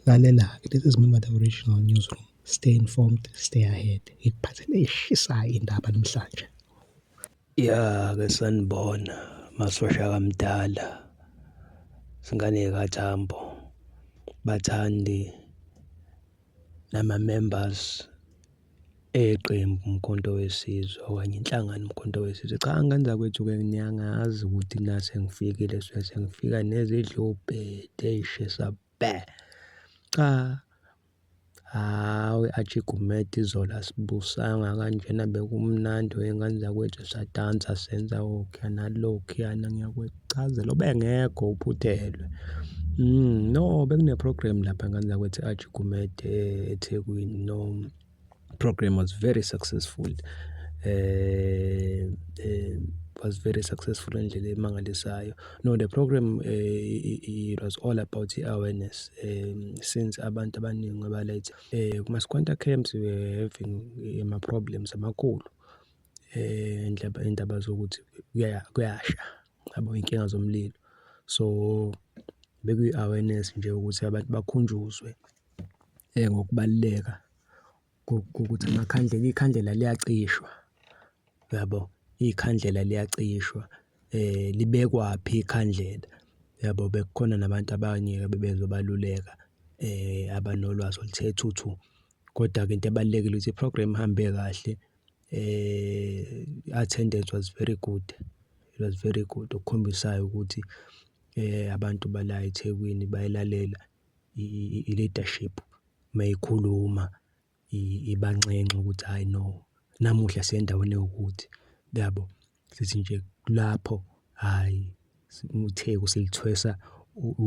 Lalela-ke, this is Mnumber The Original Newsroom, stay informed, stay ahead. Ngikuphathele eshisayo indaba namhlanje. Ya-ke sanibona masosha kamdala singane kathambo bathandi nama-members eqembu Umkhonto Wesizwe okanye inhlangano Umkhonto Wesizwe. Cha angenza kwethu-ke niyangazi ukuthi na sengifikile sengifika nezidlubhede ey'shisa bhe cha hawu i-Archie Gumede izolo asibusanga kanjena bekumnandi wey'ngane zakwethu sadansa senza okhuya nalokhuyana ngiyakwecazela ubengekho uphuthelwe. No bekune-program lapha ngane zakwethu e-Archie Gumede eThekwini no. program was very successful eh, eh was very successful ngendlela emangalisayo no the program uh, it was all about i-awareness um, since abantu abaningi abaletha um eh, kuma-squanta camps we were having eh, ama-problems amakhulu um indaba zokuthi kuyasha yabo inkinga zomlilo so bekuyi-awareness nje ukuthi abantu bakhunjuzwe Ngokubaluleka kokuthi amakhandlela, ikhandlela liyacishwa, uyabo? Ikhandlela liyacishwa, libekwaphi ikhandlela, uyabo? Bekukhona nabantu abanye bebezobaluleka abanolwazi oluthe thuthu. Kodwa-ke into ebalulekile ukuthi i-program ihambe kahle, i-attendance was very good, it was very good, okukhombisa ukuthi abantu bala eThekwini bayilalela. i-leadership uma ikhuluma ibanxenxa ukuthi hhayi no, namuhla siya endaweni ewukuthi yabo. Sithi nje kulapho hhayi uTheku silithwesa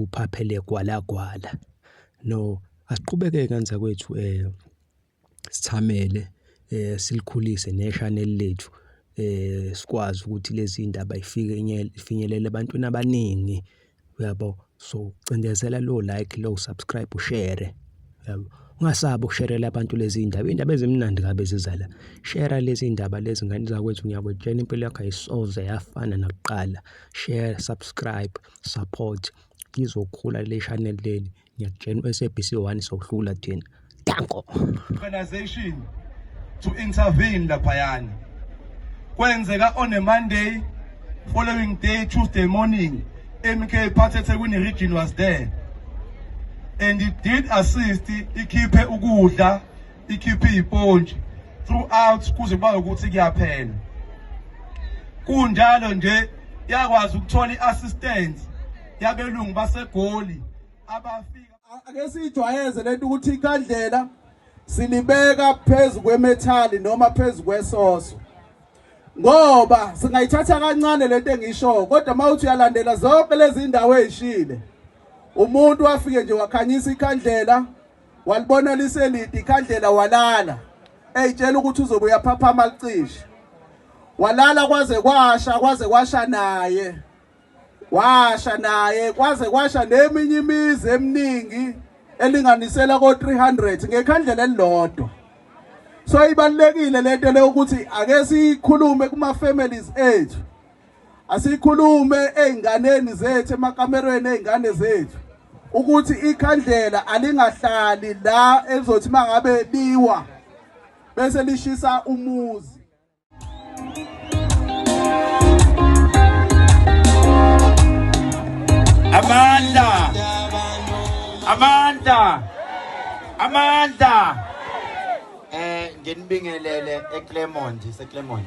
uphaphele gwalagwala. No, asiqhubeke kanzakwethu . sithamele eh silikhulise neShanel lethu eh sikwazi ukuthi lezi indaba ifike ifinyelele ebantwini abaningi uyabo so cindezela lo like lo subscribe ushare yabo ungasabi ukusherela abantu lezi indaba indaba ezimnandi kabe zizala share lezi indaba lezi ngane zakwethu ngiyakwetshela impilo yakho ayisoze yafana nakuqala share subscribe support lizokhula le channel leli ngiyakutshela u-sabc one sokuhlula thina danko organization to intervene laphayana kwenzeka on a monday following day tuesday morning mk phathe ethekwini region was there and it did assist ikhiphe ukudla ikhiphe ipontshi throughout kuze kuba ukuthi kuyaphela kunjalo nje yakwazi ukuthola i-assistance yabelungu basegoli abafika ake siyijwayeze lento ukuthi ikandlela silibeka phezu kwemethali noma phezu kwesoso ngoba singayithatha kancane lento engisho kodwa mawuthi uyalandela zonke lezi ndawo ezishile umuntu wafike nje wakhanyisa ikhandlela walibona liselidi ikhandlela walala eyitshela ukuthi uzobe uyaphaphama licishe walala kwaze kwasha kwaze kwasha naye washa naye kwaze kwasha neminye imizi eminingi elinganisela ko 300 ngekhandlela elilodwa so ibalekile lento le ukuthi ake sikhulume kuma families ethu Asikhulume ezinganeni zethu emakamerweni ezingane zethu ukuthi ikhandlela alingahlali la elizothi mangabe liwa bese lishisa umuzi Amanda Amanda Amanda eh nginibingelele eClermont iseClermont